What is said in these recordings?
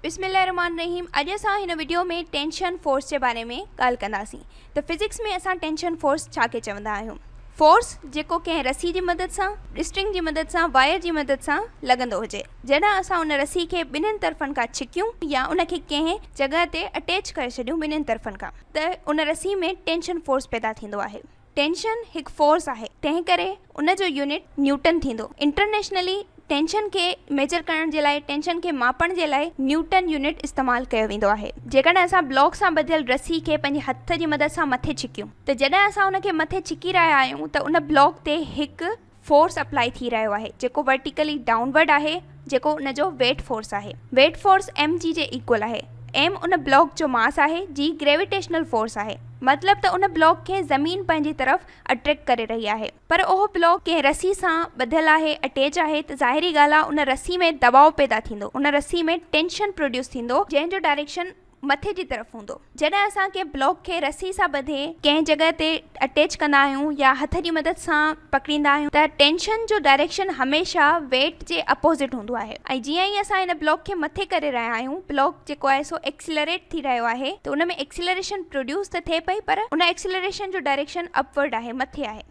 بسم الله الرحمن الرحيم اڄ اسان هن وڊيو ۾ ٽينشن فورس جي باري ۾ ڳالهه ڪنداسين ته فزڪس ۾ اسان ٽينشن فورس ڇا کي چوندا آهيون فورس جيڪو ڪنهن رسي جي مدد سان اسٽرنگ جي مدد سان وائر جي مدد سان لڳندو هجي جڏهن اسان ان رسي کي ٻنهين طرفن کان ڇڪيون يا ان کي ڪنهن جڳهه تي اٽيچ ڪري ڇڏيون ٻنهين طرفن کان ته ان رسي ۾ ٽينشن فورس پيدا ٿيندو آهي ٽينشن هڪ فورس آهي تنهن ڪري ان جو يونٽ نيوٽن ٿيندو. انٽرنيشنلي ٽينشن کي ميجر ڪرڻ جي لاء ٽينشن کي ماپڻ جي لاء نيوٽن يونٽ استعمال ڪيو ويندو آهي. جيڪڏهن اسان بلاڪ سان ٻڌل رسي کي پنهنجي هٿ جي مدد سان مٿي ڇڪيون ته جڏهن اسان ان کي مٿي ڇڪي رهيا آهيون ته ان بلاڪ تي هڪ فورس اپلائي ٿي رهيو آهي جيڪو ورٽيڪلي ڊائون ورڊ آهي جيڪو ان جو ويٽ فورس آهي. ويٽ فورس ايم جي جي ايڪول آهي. ايم ان بلاڪ جو ماس آهي جي گريويٽيشنل فورس آهي مطلب ته ان بلاڪ کي زمين پنهنجي طرف اٽريڪٽ ڪري رهي آهي پر اهو بلاڪ ڪنهن رسي سان ٻڌل آهي اٽيچ آهي ته ظاهري ڳالهه آهي ان رسي ۾ دٻاء پيدا ٿيندو ان رسي ۾ ٽينشن پروڊيوس ٿيندو جنهن جو ڊائريڪشن مٿي جي طرف هوندو. جڏهن اسان ڪنهن بلاڪ کي رسي سان ٻڌي ڪنهن جڳهه تي اٽيچ ڪندا آهيون يا هٿ جي مدد سان پڪڙيندا آهيون ته ٽينشن جو ڊائريڪشن هميشه ويٽ جي اپوزٽ هوندو آهي ۽ جيئن ئي اسان هن بلاڪ کي مٿي ڪري رهيا آهيون بلاڪ جيڪو آهي سو ايڪسيلريٽ ٿي رهيو آهي ته ان ۾ ايڪسيلريشن پروڊيوس ته ٿئي پئي پر ان ايڪسيلريشن جو ڊائريڪشن اپورڊ آهي مٿي آهي.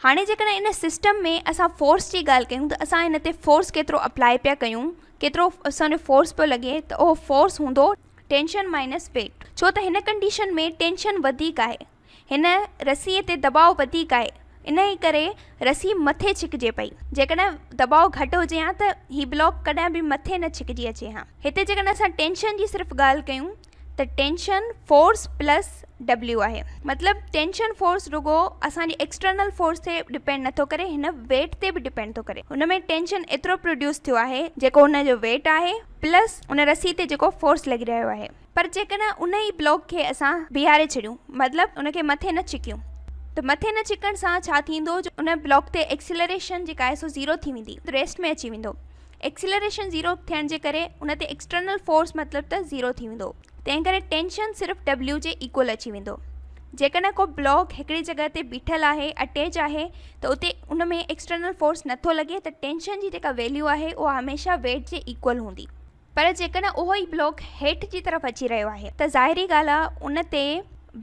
هاڻي جيڪڏهن ان سسٽم ۾ اسان فورس جي ڳالهه ڪيون ته اسان ان تي فورس ڪيترو اپلائي پيا ڪيون ڪيترو اسان جو فورس پيو لڳي ته اهو فورس هوندو ٽينشن مائنس ويٽ ڇو ته هن ڪنڊيشن ۾ ٽينشن وڌيڪ آهي هن رسي تي دٻاء وڌيڪ آهي انهي ڪري رسي مٿي ڇڪجي پئي جيڪڏهن دٻاء گهٽ هجي ها ته هي بلاڪ ڪڏهن به مٿي نه ڇڪجي اچي ها هتي جيڪڏهن اسان ٽينشن جي صرف ڳالهه ڪيون ته ٽينشن فورس پلس ڊبليو آهي مطلب ٽينشن فورس رڳو اسان جي ايڪسٽرنل فورس تي ڊپينڊ نه ٿو ڪري هن ويٽ تي به ڊپينڊ ٿو ڪري هن ۾ ٽينشن ايترو پروڊيوس ٿيو آهي جيڪو هن جو ويٽ آهي پلس ان رسي تي جيڪو فورس لڳي رهيو آهي پر جيڪڏهن ان ئي بلاڪ کي اسان بيهاري ڇڏيون مطلب ان کي مٿي نه ڇڪيون ته مٿي نه ڇڪڻ سان ڇا ٿيندو جو ان بلاڪ تي ايڪسلريشن جيڪا آهي سو زيرو ٿي ويندي ريسٽ ۾ اچي ويندو ايڪسيلريشن زيرو ٿيڻ جي ڪري ان تي ايڪسٽرنل فورس مطلب ته زيرو ٿي ويندو تنهن ڪري ٽينشن صرف W جي ايڪول اچي ويندو جيڪڏهن ڪو بلاڪ هڪڙي جڳهه تي بيٺل آهي اٽيچ آهي ته اتي ان ۾ ايڪسٽرنل فورس نٿو لڳي ته ٽينشن جي جيڪا ويليو آهي اها هميشه ويٽ جي ايڪول هوندي پر جيڪڏهن اهو ئي بلاڪ هيٺ جي طرف اچي رهيو آهي ته ظاهري ڳالهه آهي ان تي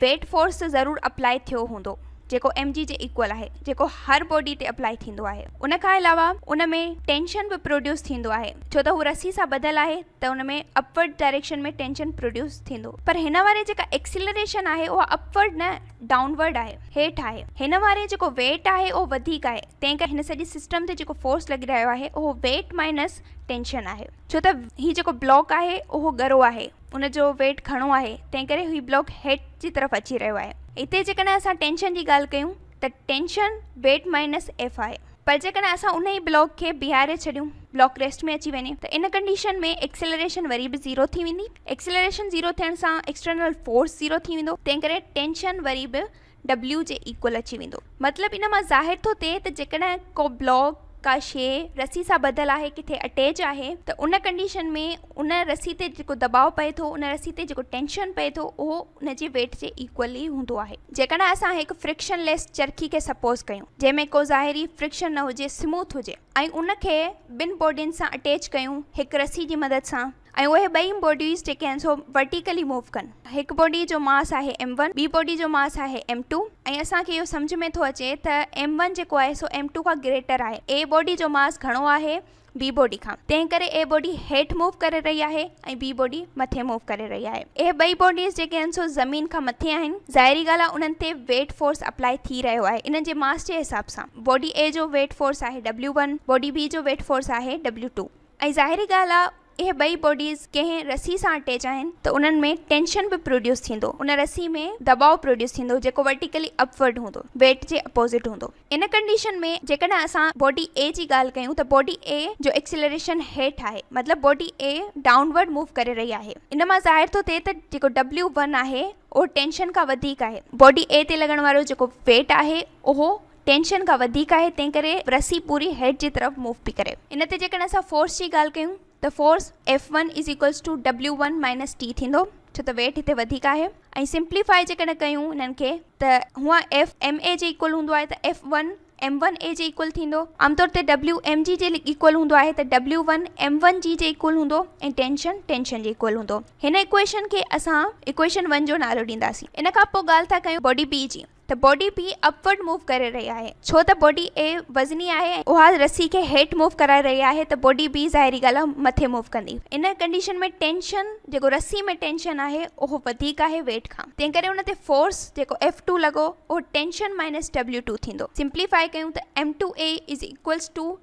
ويٽ فورس ته ضرور اپلاء ٿيو هوندو جيڪو ايم جي جي ايڪول آهي جيڪو هر باڊي تي اپلاء ٿيندو آهي ان کان علاوه ان ۾ ٽينشن به پروڊيوس ٿيندو آهي ڇو ته هو رسي سان ٻڌل آهي ته ان ۾ اپورڊ ڊائريڪشن ۾ ٽينشن پروڊيوس ٿيندو پر هن واري جيڪا ايڪسيلريشن آهي اها اپورڊ نه ڊائونورڊ آهي هيٺ آهي هن واري جيڪو ويٽ آهي اهو وڌيڪ آهي تنهن ڪري هن سڄي سسٽم تي جيڪو فورس لڳي رهيو آهي اهو ويٽ مائنس ٽينشن آهي ڇو ته هي جيڪو بلاڪ آهي اهو ڳرو آهي ان جو ويٽ گهڻو آهي تنهن ڪري هي بلاڪ هيٺ جي طرف اچي رهيو آهي هتي جيڪڏهن اسان ٽينشن جي ڳالهه ڪيون ته ٽينشن ويٽ مائنس ايف آهي پر جيڪڏهن اسان ان ئي بلاڪ کي بيهاري ڇڏيون بلاڪ ريسٽ ۾ اچي وڃي ته ان ڪنڊيشن ۾ ايڪسلريشن وري به زيرو ٿي ويندي ايڪسلريشن زيرو ٿيڻ سان ايڪسٽرنل فورس زيرو ٿي ويندو تنهن ڪري ٽينشن وري به W جي ايڪول اچي ويندو. مطلب ان مان ظاهر ٿو ٿئي ته جيڪڏهن ڪو بلاڪ، ڪا شيء، رسي سان ٻڌل آهي، ڪٿي اٽيچ آهي ته ان ڪنڊيشن ۾ ان رسي تي جيڪو دٻاء پئي ٿو، ان رسي تي جيڪو ٽينشن پئي ٿو اهو ان جي ويٽ جي ايڪول ئي هوندو آهي. جيڪڏهن اسان هڪ فرڪشن ليس چرخي کي سپوز ڪيون جنهن ۾ ڪو ظاهري فرڪشن نه هجي، سموٿ هجي ۽ ان کي ٻن باڊين سان اٽيچ ڪيون هڪ رسي جي مدد سان، ۽ اهي ٻئي بوڊيز جيڪي آهن سو ورٽيڪلي موو ڪن. هڪ بوڊي جو ماس آهي ايم ون ٻي بوڊي جو ماس آهي ايم ٽو ۽ اسان کي اهو سمجهه ۾ ٿو اچي ته ايم ون جيڪو آهي سو ايم ٽو کان گريٽر آهي اي بوڊي جو ماس گهڻو آهي بي بوڊي کان تنهن ڪري اي بوڊي هيٺ موو ڪري رهي آهي ۽ بي بوڊي مٿي موو ڪري رهي آهي اهي ٻئي بوڊيز جيڪي آهن سو زمين کان مٿي آهن ظاهري ڳالهه آهي انهن تي ويٽ فورس اپلائي ٿي رهيو آهي انهن جي ماس جي حساب سان بوڊي اي جو ويٽ فورس آهي ڊبليو ون بوڊي بي جو ويٽ فورس آهي ڊبليو ٽو ۽ ظاهري ڳالهه آ اهي ٻئي بوڊيز ڪنهن رسي سان اٽيچ آهن ته انهن ۾ ٽينشن به پروڊيوس ٿيندو ان رسي ۾ دٻاء پروڊيوس ٿيندو جيڪو ورٽيڪلي اپ ورڊ هوندو ويٽ جي اپوزٽ هوندو ان ڪنڊيشن ۾ جيڪڏهن اسان بوڊي اي جي ڳالهه ڪيون ته بوڊي اي جو ايڪسيلريشن هيٺ آهي مطلب body A downward move ڪري رهي آهي ان مان ظاهر ٿو ٿئي ته جيڪو ڊبليو ون آهي اهو ٽينشن کان وڌيڪ آهي بوڊي اي تي لڳڻ وارو جيڪو ويٽ آهي اهو ٽينشن کان وڌيڪ آهي تنهن ڪري رسي پوري هيڊ جي طرف موو پي ڪري. ان تي جيڪڏهن اسان فورس جي ڳالهه ڪيون ته force F one is equals to W one minus T ٿيندو ڇو ته ويٽ هتي وڌيڪ آهي ۽ سمپلي فائي جيڪڏهن ڪيون انهن کي ته هونئن ايف ايم اي جي ايڪول هوندو آهي ته F one M one A جي ايڪول ٿيندو عام طور تي ڊبليو ايم جي جي ايڪول هوندو آهي ته W one M one G جي ايڪول هوندو ۽ ٽينشن ٽينشن جي ايڪول هوندو هن ايڪويشن کي اسان ايڪويشن ون جو نالو ڏينداسين ان کان پوء ڳالهه ٿا ڪيون باڊي بي جي ته body B upward move ڪري رهي آهي ڇو ته باڊي اي وزني آهي ۽ اها رسي کي هيٺ موو ڪرائي رهي آهي ته باڊي بي ظاهري ڳالهه آهي مٿي موو ڪندي ان ڪنڊيشن ۾ ٽينشن جيڪو رسي ۾ ٽينشن آهي اهو وڌيڪ آهي ويٽ کان تنهن ڪري ان تي فورس جيڪو ايف ٽو لڳو اهو ٽينشن مائنس ڊبليو ٽو ٿيندو سمپليفائي ڪيون ته M two A is equals to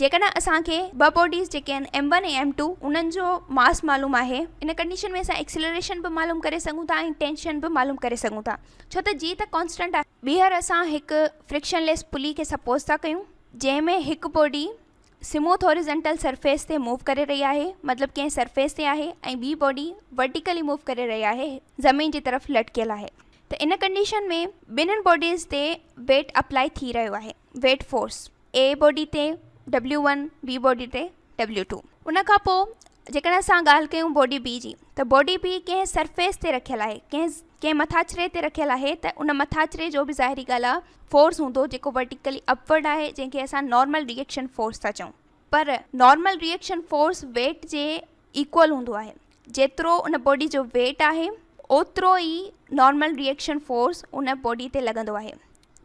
جيڪڏهن اسان کي ٻه باڊيز جيڪي آهن ايم ون ۽ ايم ٽو انهن جو ماس معلوم آهي ان ڪنڊيشن ۾ اسان ايڪسلريشن به معلوم ڪري سگهون ٿا ۽ ٽينشن به معلوم ڪري سگهون ٿا ڇو ته جي ته ڪانسٽنٽ آهي ٻيهر اسان هڪ فريڪشن ليس پلي کي سپوز ٿا ڪيون جنهن ۾ هڪ باڊي سموٿ هاريزنٽل سرفيس تي موو ڪري رهي آهي مطلب ڪنهن سرفيس تي آهي ۽ ٻي باڊي ورٽيڪلي موو ڪري رهي آهي زمين جي طرف لٽڪيل آهي ته ان ڪنڊيشن ۾ ٻنهن باڊيز تي ويٽ اپلائي ٿي رهيو آهي ويٽ فورس اي باڊي تي ڊبليو ون بي باڊي تي ڊبليو ٽو ان کان پوء جيڪڏهن اسان ڳالهه ڪيون باڊي بي جي ته باڊي بي ڪنهن سرفيس تي رکيل آهي ڪنهن ڪنهن مٿاڇري تي رکيل آهي ته ان مٿاڇري جو به ظاهري ڳالهه آهي فورس هوندو جيڪو ورٽيڪلي اپورڊ آهي جنهن کي اسان نارمل ريئڪشن فورس ٿا چئون پر نارمل ريئڪشن فورس ويٽ جي ايڪول هوندو آهي جيترو ان باڊي جو ويٽ آهي اوترو ئي نارمل ريئڪشن فورس ان باڊي تي لڳندو آهي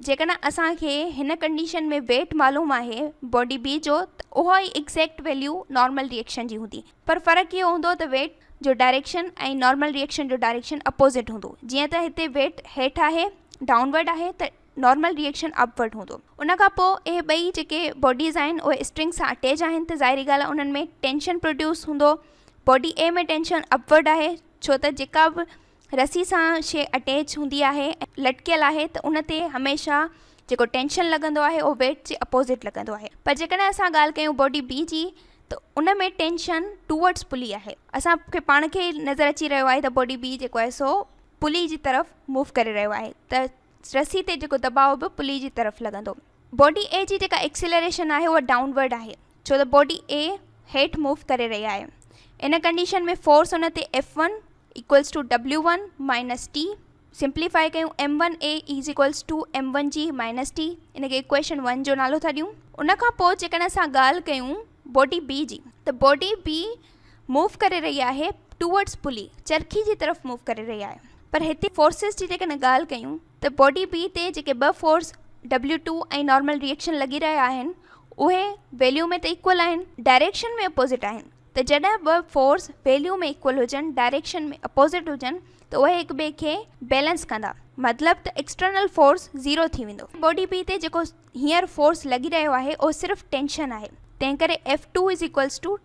جيڪڏهن اسان کي هن ڪنڊيشن ۾ ويٽ معلوم آهي باڊي بي جو ته اها ئي ايگزيڪٽ ويليو نارمل ريئڪشن جي هوندي پر فرق اهو هوندو ته ويٽ جو ڊائريڪشن ۽ نارمل ريئڪشن جو ڊائريڪشن اپوزٽ هوندو جيئن ته هتي ويٽ هيٺ آهي ڊائون ورڊ آهي ته نارمل ريئڪشن اپ ورڊ هوندو ان کان پوء اهي ٻئي جيڪي باڊيز آهن اهي اسٽرنگ سان اٽيچ آهن ته ظاهري ڳالهه آهي انهن ۾ ٽينشن پروڊيوس هوندو body A ۾ tension upward آهي ڇو ته جيڪا به رسي سان شيء اٽيچ هوندي آهي ۽ لٽڪيل آهي ته ان تي هميشه جيڪو ٽينشن لڳندو آهي اهو ويٽ جي اپوزٽ لڳندو آهي پر جيڪڏهن اسان ڳالهه ڪيون باڊي بي جي ته ان ۾ ٽينشن ٽوورڊس پلي آهي اسان کي پاڻ کي نظر اچي رهيو آهي ته باڊي بي جيڪو آهي سو پلي جي طرف موو ڪري رهيو آهي ته رسي تي جيڪو دٻاء به پلي جي طرف لڳندو. باڊي اي جي جيڪا ايڪسيلريشن آهي اها ڊائون ورڊ آهي ڇو ته باڊي اي هيٺ موو ڪري رهي آهي ان ڪنڊيشن ۾ فورس ان تي F one equals to W one minus T simplify ڪيون M one A is equals to M one G minus T ان کي ايڪويشن ون جو نالو ٿا ڏيون ان کان پوء جيڪڏهن اسان ڳالهه ڪيون باڊي بي جي ته باڊي بي موو ڪري رهي آهي ٽوورڊز پلي چرخي جي طرف موو ڪري رهي آهي پر هتي فورسز جي جيڪڏهن ڳالهه ڪيون ته باڊي بي تي جيڪي ٻه force W two ۽ normal reaction لڳي رهيا آهن اهي ويليو ۾ ته ايڪول آهن ڊائريڪشن ۾ اپوزٽ آهن ته جڏهن ٻه فورس ويليو ۾ ايڪول هجن ڊائريڪشن ۾ اپوزٽ هجن ته اهي هڪ ٻئي کي بيلنس ڪندا مطلب ته ايڪسٽرنل فورس زيرو ٿي ويندو باڊي بي تي جيڪو هينئر فورس لڳي رهيو آهي اهو صرف ٽينشن آهي تنهنڪري F two is equals to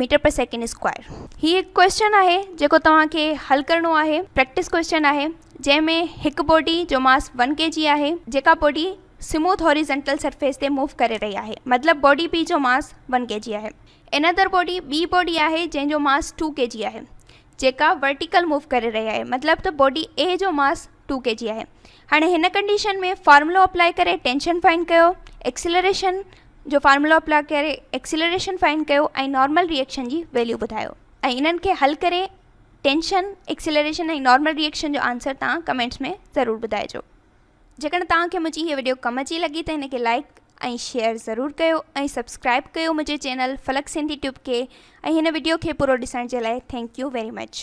metre per second square هي هڪ ڪويسچن آهي جيڪو توهان کي حل ڪرڻو آهي پريڪٽس ڪويسچن آهي جنهن ۾ هڪ بوڊي جو ماس ون ڪي جي آهي جيڪا بوڊي سموٿ هوريزنٽل سرفيس تي موو ڪري رهي آهي مطلب بوڊي بي جو ماس ون ڪي جي آهي ان ادر بوڊي ٻي بوڊي آهي جنهن جو ماس ٽو ڪي جي آهي جيڪا ورٽيڪل موو ڪري رهي آهي مطلب ته بوڊي اي جو ماس ٽو ڪي جي آهي هاڻي هن ڪنڊيشن ۾ فارمولو اپلائي ڪري ٽينشن فائنڊ ڪيو ايڪسلريشن جو فارمولو اپلائي ڪري ايڪسلريشن فائنڊ ڪيو ۽ نارمل ريئڪشن جي ويليو ٻڌايو ۽ انهن کي حل ڪري ٽينشن ايڪسلريشن ۽ نارمل ريئڪشن جو آنسر تان ڪمينٽس ۾ ضرور ٻڌائجو جيڪڏهن توهان کي منهنجي هي وڊيو ڪم اچي لڳي ته هن کي لائڪ ۽ شيئر ضرور ڪيو ۽ سبسڪرائب ڪيو منهنجي چينل فلڪ سنڌي ٽيوب کي ۽ هن وڊيو کي پورو ڏسڻ جي لاء ٿينڪ يو ويري مچ